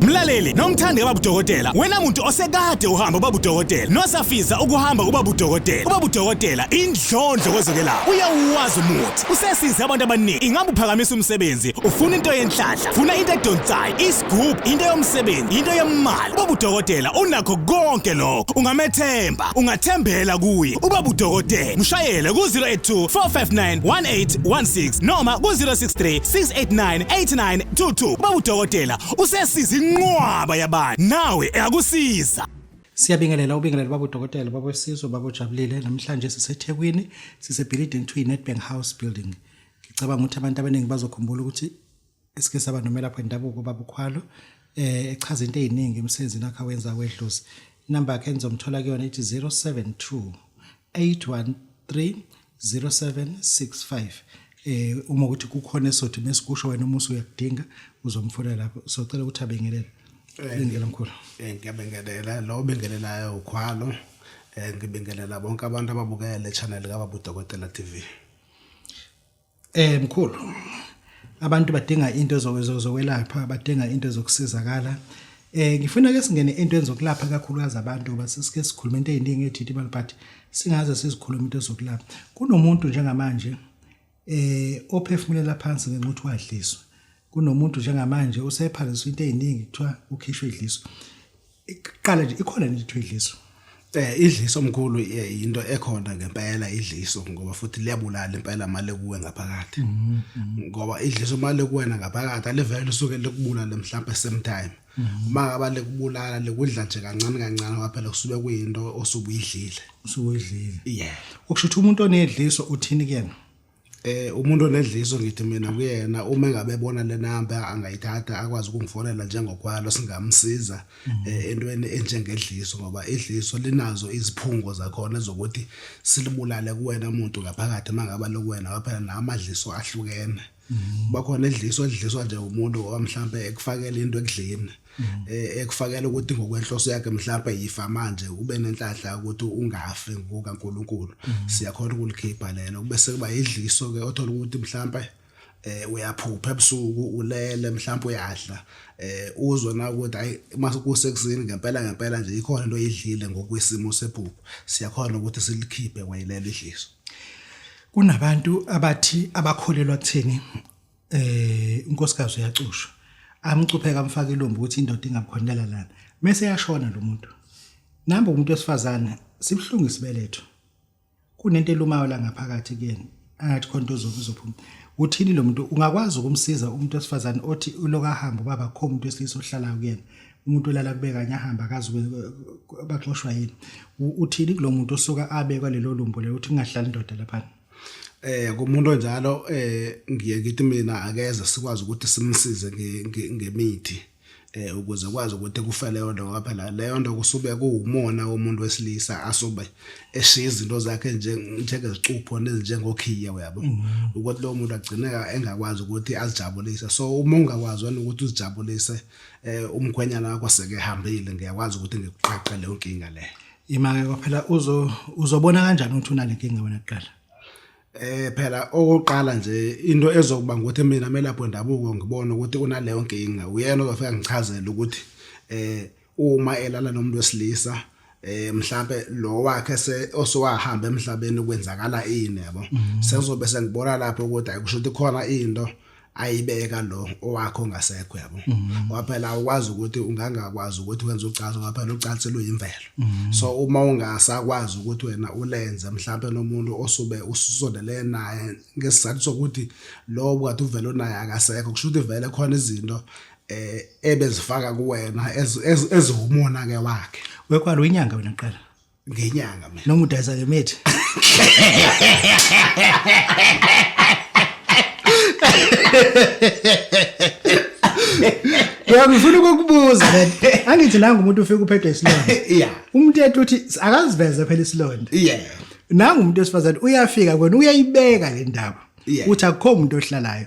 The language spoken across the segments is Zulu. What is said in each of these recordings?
Mlaleli, nomthandi kababudokotela, wena muntu osekade uhamba ubabudokotela, nosafiza ukuhamba ubabudokotela. Ubabudokotela indlondlo kwezokelapha. Uyawuwazi umuthi. Usesize abantu abaningi. Ingabe uphakamisa umsebenzi, ufuna into yenhlanhla, funa into edonsayo, isigubhu, into yomsebenzi, into yemali. Ubabudokotela unakho konke lokho. Ungamethemba, ungathembela kuye. Ubabudokotela, mshayele ku-082 459 1816 noma ku-063 689 89 Thuthu baba udokotela usesiza inqwaba yabantu nawe eyakusiza Siyabingelela ubingelela baba udokotela baba wesizwe baba ujabulile namhlanje siseThekwini sise building to Nedbank House building ngicabanga ukuthi abantu abaningi bazokhumbula ukuthi esike saba nomelaphi wendabuko baba ukhwalo eh echaza into eziningi emsenzini akhe awenza wedlozi number yakhe enizomthola kuyona ithi 072 813 0765 eh uma ukuthi kukhona esothi mesikusho wena uma usuyakudinga uzomfuna lapho socela ukuthi abengelele eh, ngiyabingelela mkhulu eh, ngiyabingelela lo bengelelayo ukhwalo eh, ngibingelela bonke abantu ababukele channel kababu dokotela TV Eh mkhulu abantu badinga into zokwelapha badinga into zokusizakala eh ngifuna ke singene into enzokulapha kakhulukazi abantu ngoba sisike sikhuluma into eziningi ethithi imali but singaze sizikhuluma into zokulapha kunomuntu njengamanje eh ophefumulela phansi ngenxa ukuthi wadliswa kunomuntu njengamanje usephaliswa into eziningi kuthiwa ukhishwe idliswa iqala nje ikhona nje ithiwa idliso eh idliso omkhulu eh, into ekhona ngempela idliso ngoba futhi liyabulala impela mali kuwe ngaphakathi mm, mm. ngoba idliso mali kuwena ngaphakathi alivele lisuke likubulala mhlawumbe same time mm. uma abale kubulala lekudla nje kancane kancane waphela kusube kuyinto osubuyidlile usubuyidlile yeah ukusho ukuthi umuntu onedliso uthini kuyena Eh umuntu onedliso ngithi mina kuyena uma engabe ebona le number angayithatha akwazi ukungifonela njengokwalo singamsiza eh, entweni enjengedliso ngoba idliso linazo iziphungo zakhona zokuthi silibulale kuwena muntu ngaphakathi mangaba lokuwena waphela namadliso ahlukene bakhona edliso edliswa nje umuntu owamhlambe ekufakela into ekudleni mm-hmm. eh, ekufakela ukuthi ngokwenhloso yakhe mhlawumbe yifa manje ube nenhlanhla ukuthi ungafi ngokaNkuluNkulu mm-hmm. siyakhona ukulikhipha lelo kube sekuba idliso ke othola ukuthi mhlawumbe eh uyaphupha ebusuku ulele mhlawumbe uyadla eh uzwe na ukuthi ayi mase kusekusini ngempela ngempela nje ikhona into oyidlile ngokwesimo sephupho siyakhona ukuthi silikhiphe wayilele idliso kunabantu abathi abakholelwa kuthini eh unkosikazi uyacusha amcupheka amfaka ilombo ukuthi indoda ingabukhonela lana mase yashona lo muntu namba umuntu wesifazane sibuhlungu isibeletho kunento elumayo la ngaphakathi kuyena angathi khonto uzophuma uthini lo muntu ungakwazi ukumsiza umuntu wesifazane othi uloka hamba ubaba kho umuntu wesilisa ohlala kuyena umuntu olala kube kanye ahamba akazi baxoshwa yini uthini kulo muntu osuka abekwa lelo lumbo lelo uthi kungahlali indoda laphana eh kumuntu onjalo eh ngiye ngithi mina akeze sikwazi ukuthi simsize ngemithi eh ukuze kwazi ukuthi kufe leyo nto ngoba phela leyo nto kusube kuwumona womuntu wesilisa asube eshiya izinto zakhe njengezicupho nezinjengokhiye uyabo mm-hmm. ukuthi lowo muntu agcineka engakwazi ukuthi azijabulise so uma ungakwazi wena ukuthi uzijabulise eh umkhwenyana wakho seke hambile ngiyakwazi ukuthi ngikuqaqe leyo nkinga leyo Imake kwaphela uzo uzobona kanjani ukuthi unale nkinga wena kuqala? Eh phela okoqala nje into ezokuba ukuthi mina melapho ndabuko ngibona ukuthi unaleyo nkinga uyena ozofika ngichazele ukuthi eh uma elala nomuntu wesilisa eh mhlambe lo wakhe se osowahamba emhlabeni kwenzakala ini yabo mhm. sengizobe sengibona lapho ukuthi ayikusho ukuthi khona into ayibeka lo owakho ongasekho yabo mhm. ngoba phela ukwazi ukuthi ungangakwazi ukuthi wenze ucansi ngoba phela ucansi luyimvelo mhm. so uma ungasakwazi ukuthi wena ulenze mhlawumbe nomuntu osube ususondele naye ngesizathu sokuthi lo kade uvele unaye akasekho kusho ukuthi vele khona izinto eh ebezifaka kuwena ezihumona ke wakhe wekwalo inyanga wena qala ngenyanga mina noma udayisa ngemithi Yebo ngifuna ukukubuza le. Angithi nangu umuntu ufika uphethwe isilonda. Yeah. Umuntu ethi uthi akaziveze phela isilonda. Yeah. Nangu umuntu wesifazane uyafika kwena uyayibeka le ndaba. Uthi akukho umuntu ohlalayo.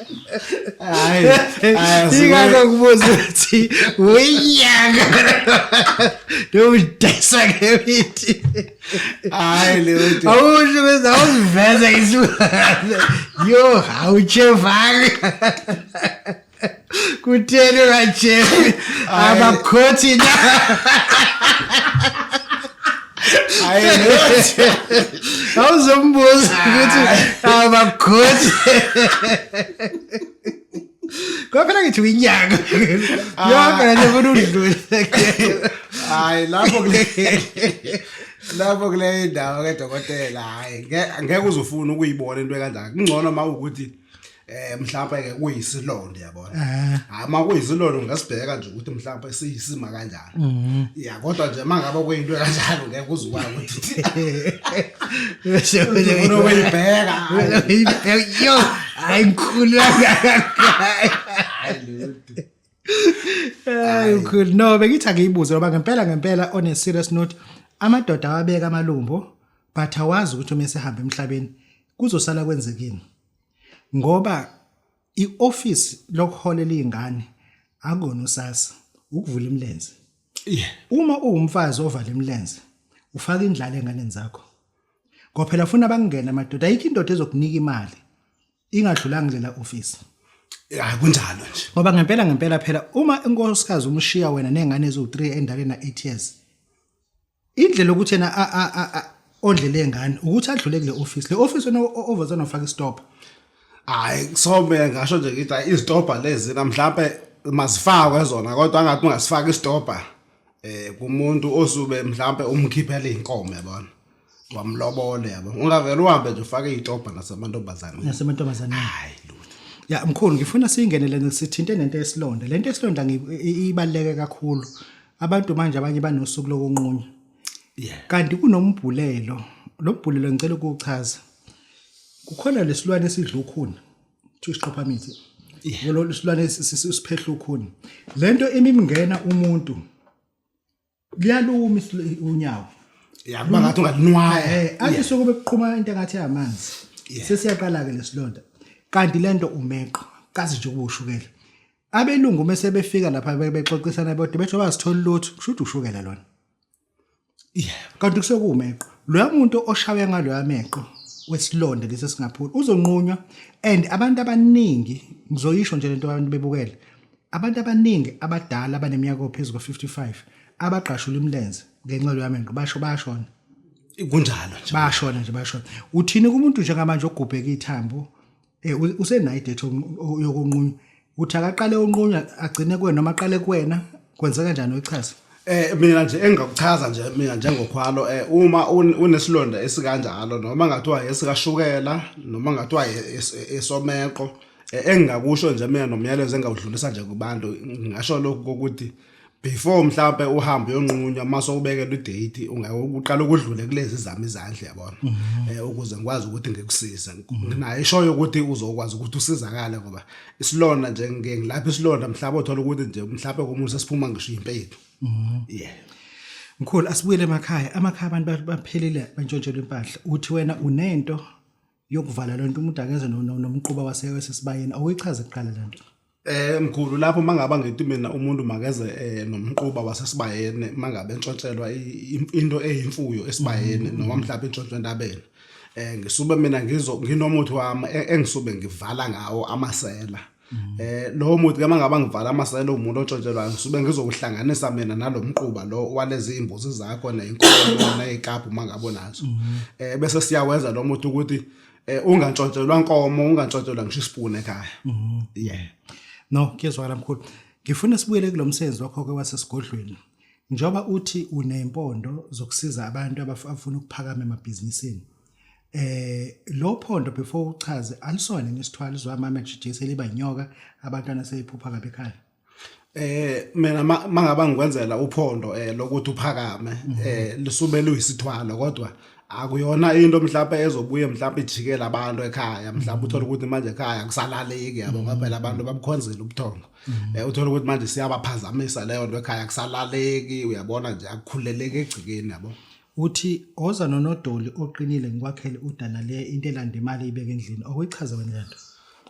hayi ingakho kubuza ukuthi uyinyanga nowudayisa ngemithi hayi leyonto awusho ukuthi awuziveza isilwane yo awutshevali kutheni ungatshevi abakhothi na hayi ukuthi awuzombuza ukuthi abakhoti kwaphela ngithi uyinyanga yonke nje ufuna udlule hayi lapho kule lapho kule ndawo ke dokotela hayi ngeke uzufuna ukuyibona into ekandaka kungcono uma ukuthi eh mhlawumbe ke kuyisilonda yabona eh. hayi uma kuyisilonda ungasibheka nje ukuthi mhlawumbe siyisima kanjani mhm. ya kodwa nje mangabe kuyinto kanjalo ngeke uzukwazi ukuthi bese wena uyibheka uyibheka yo hayi ngikhulu kangakangayi hayi ukhulu no bengithi angiyibuze ngoba ngempela ngempela on a serious note amadoda awabeka amalumbo but awazi ukuthi uma esehambe emhlabeni kuzosala kwenzekini ngoba ioffice lokuholela izingane akona usasa ukuvula imilenze yeah uma uwumfazi ovala imilenze ufaka indlala enganeni zakho ngoba phela funa bakungena amadoda ayikho indoda ezokunika imali ingadlulanga lela office hayi kunjalo nje ngoba ngempela ngempela phela uma inkosikazi umshiya wena nengane eziwu3 endalena 8 years indlela ukuthi yena ondle lengane ukuthi adlule kule office le office wena ovazana ufaka istop hayi kusome ngasho nje ngithi hayi izitobha lezi namhlawumbe mazifakwe zona kodwa angathi ungasifaka isitobha eh kumuntu osube mhlawumbe umkhiphela izinkomo yabona wamlobole yabo ungavela uhambe nje ufake izitobha nasemantombazane nasemantombazane hayi ya mkhulu ngifuna siyingenele sithinte nento yesilonda lento yesilonda ibaleke kakhulu abantu manje abanye banosuku lokunqunywa yeah kanti kunombhulelo lo mbhulelo ngicela ukuchaza kukhona lesilwane esidla ukhuni kuthiwa isiqophamithi yebo lo silwane siphehla ukhuni lento imimngena umuntu liyaluma unyawo yakuba ngathi ungalinwaya eh, eh athi sokube kuqhuma into engathi yamanzi sesiyaqala ke lesilonda kanti lento umeqo kazi nje ukushukela abelungu uma sebefika lapha bebexoxisana bodwa bethu abazithola lutho kusho ukuthi ushukela lona yeah kanti kusekumeqo loya muntu oshawe ngaloya meqo wesilonda lesi singaphula uzonqunywa and abantu abaningi ngizoyisho nje lento abantu bebukele abantu abaningi abadala abaneminyaka phezulu kwa-55 abagqashula imilenze ngenxa loya meqo basho bayashona kunjalo nje bayashona nje bayashona uthini kumuntu njengamanje ogubheka ithambo Eh usenayo idate yokunqunywa. Uthi akaqale unqunywa agcine kuwena noma aqale kuwena kwenzeka kanjani uyichaza? Eh mina nje engakuchaza nje mina njengokhwalo eh uma unesilonda esikanjalo noma ngathiwa esikashukela noma ngathiwa esomeqo eh, engingakusho nje mina nomyalezo engawudlulisa nje kubantu ngasho lokhu ukuthi before mhlambe uhambe uyonqunywa mase ubekelwe idate ungeke uqala ukudlule kulezi zami izandla yabona mhm. eh ukuze ngikwazi ukuthi ngikusize mhm. nginayo ishoyo ukuthi uzokwazi ukuthi usizakale ngoba isilonda nje ngeke ngilapha isilonda mhlawumbe uthola ukuthi nje mhlawumbe komuntu sesiphuma ngisho impethu mhm. yeah mkhulu asibuyele emakhaya amakhaya abantu baphelile bantshontshelwe impahla uthi wena unento yokuvala lonto umuntu akeze nomquba waseke sesibayeni awuyichaze kuqala lento Eh mkhulu lapho mangaba ngithi mina umuntu makeze eh, nomquba wasesibayeni mangabe entshontshelwa into eyimfuyo esibayeni mm. noma mhlawumbe intshontsho entabeni eh ngisube mina ngizo nginomuthi wami e, engisube ngivala ngawo amasela mm. eh lowo muthi ke mangaba ngivala amasela umuntu ontshontshelwayo ngisuke ngizokuhlanganisa mina nalomquba lo walezi imbuzi zakho nezinkomo nezikapu mangabo nazo mm. eh bese siyawenza lo muthi ukuthi eh ungantshontshelwa nkomo ungantshontshelwa ngisho ispoon ekhaya mhm. yeah no kuyezwakala mkhulu ngifuna sibuyele kulomsebenzi wakho ke wasesigodlweni njoba uthi unempondo zokusiza abantu abafuna ukuphakama emabhizinisini eh lo phondo before uchaze alisona nesithwalo zwa mama jijese liba nyoka abantwana seyiphupha kabe ekhaya eh mina mangaba ngikwenzela uphondo eh lokuthi uphakame mhm. eh lisume luyisithwalo kodwa akuyona into mhlawumbe ezobuye mhlawumbe ijikele abantu ekhaya mhlawumbe uthole ukuthi manje ekhaya kusalaleki yabo ngoba phela abantu babukhonzile ubuthongo mhm. eh uthole ukuthi manje siyabaphazamisa leyo nto ekhaya kusalaleki uyabona nje akukhuleleke egcikeni yabo Uthi oza nonodoli oqinile ngikwakhele udana le into elanda imali ibeke endlini okuyichaza wena lento.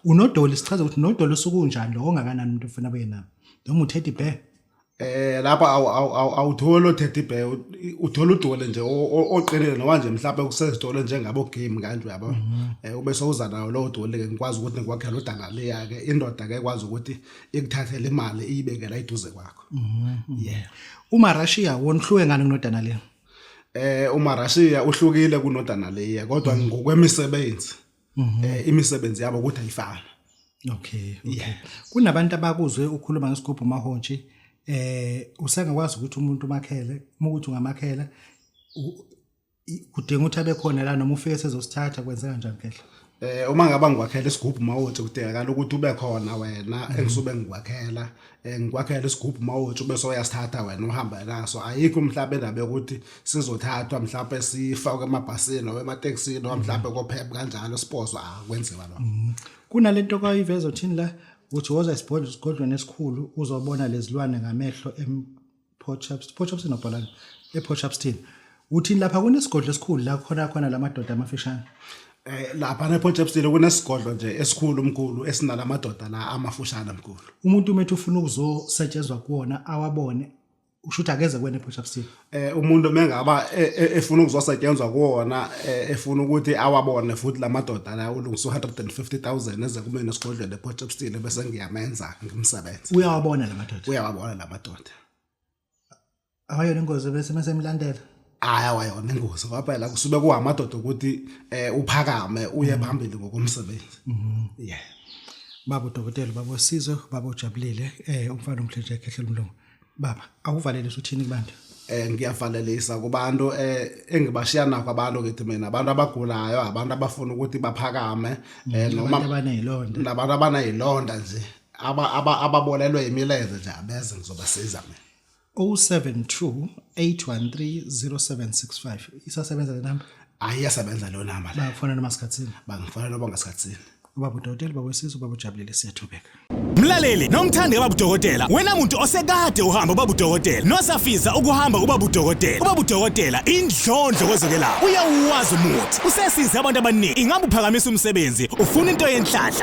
Unodoli sichaza ukuthi nodoli usukunjani lo ongakanani umuntu ufuna abuye nawo. Noma uthethe ibhe. Eh lapha awu awu awu awutholi othethe ibhe uthola udole nje o- o- oqinile noma nje mhlawumbe kusezitolo njengabo game kanje uyabo eh ube sowuza nawo lowo dole ke ngikwazi ukuthi ngikwakhela udana leya ke indoda ke ekwazi ukuthi ikuthathele imali iyibekela iduze kwakho Mhm. Yeah. Uma Russia wonhluke ngani kunodana le? Eh uma Russia uhlukile kunodana le kodwa mhm. ngokwemisebenzi. Mhm. Eh imisebenzi yabo ukuthi ayifana. Okay. Yeah. Kunabantu abakuzwe ukhuluma ngesigubhu mahontshi eh usengakwazi ukuthi umuntu umakhele, uma ukuthi ungamakhela kudinga ukuthi abe khona la noma ufike sezosithatha kwenzeka njani khehla eh uma ngaba ngikwakhela isigubhu mawuthi kudingakala ukuthi ube khona wena mhm. engisuke ngikwakhela eh, ngikwakhela isigubhu mawuthi ube soyasithatha wena uhamba naso ayikho mhlawumbe indaba yokuthi sizothathwa mhlawumbe sifakwe emabhasini noma ematekisini noma mhlawumbe mhm. kophepha kanjalo sipozo akwenziwa ah, lokho mhm. kunalento kwayiveza uthini la uthi woza isibhodlo sigodlweni esikhulu uzobona lezilwane ngamehlo Portchapston Portchapston obhalani ePortchapston uthini lapha kunesigodlo esikhulu la khona khona lamadoda amafishane Eh lapha nePortchapston kunesigodlo nje esikhulu umkhulu esinalamadoda la amafushane mkhulu. umuntu umethu ufuna ukuzosetshenzwa kuwona awabone usho ukuthi akeze kwena ePortchapston Eh umuntu mengaba e- e- efuna ukuzosetshenzwa kuwona eh, efuna ukuthi awabone futhi lamadoda la ulungisa 150000 eze kumina esigodlweni ePortchapston bese ngiyamenza ngimsebenze. uyawabona la madoda Uyawabona lamadoda. awayona ingozi bese mesemlandela hayi awayona ingozi ngoba phela kusuke kuhamadoda ukuthi eh uphakame uye mm. phambili ngokomsebenzi mm-hmm. yeah babo dokotela babo sizo babo jabulile eh umfana umhlenje ekhehlela umlomo baba akuvalelisa uthini kubantu eh ngiyavalelisa kubantu eh engibashiya nakho abantu ngithi mina abantu abagulayo abantu abafuna ukuthi baphakame eh noma abanezilonda nabantu abanezilonda nje aba aba ababolelwe imilenze nje abeze ngizobasiza mina 072 813 0765 isasebenza le number hayi iyasebenza leyo namba le bakufonela masikhathini bangifuna lobo ngasikhathini ubaba udokotela ubaba wesizwe ubaba ujabulile siyathobeka Mlaleli nomthandi kababa udokotela wena muntu osekade uhamba ubaba udokotela nosafisa ukuhamba ubaba udokotela ubaba udokotela indlondlo kwezokelapha uyawuwazi umuthi usesize abantu abaningi ingabe uphakamisa umsebenzi ufuna into yenhlanhla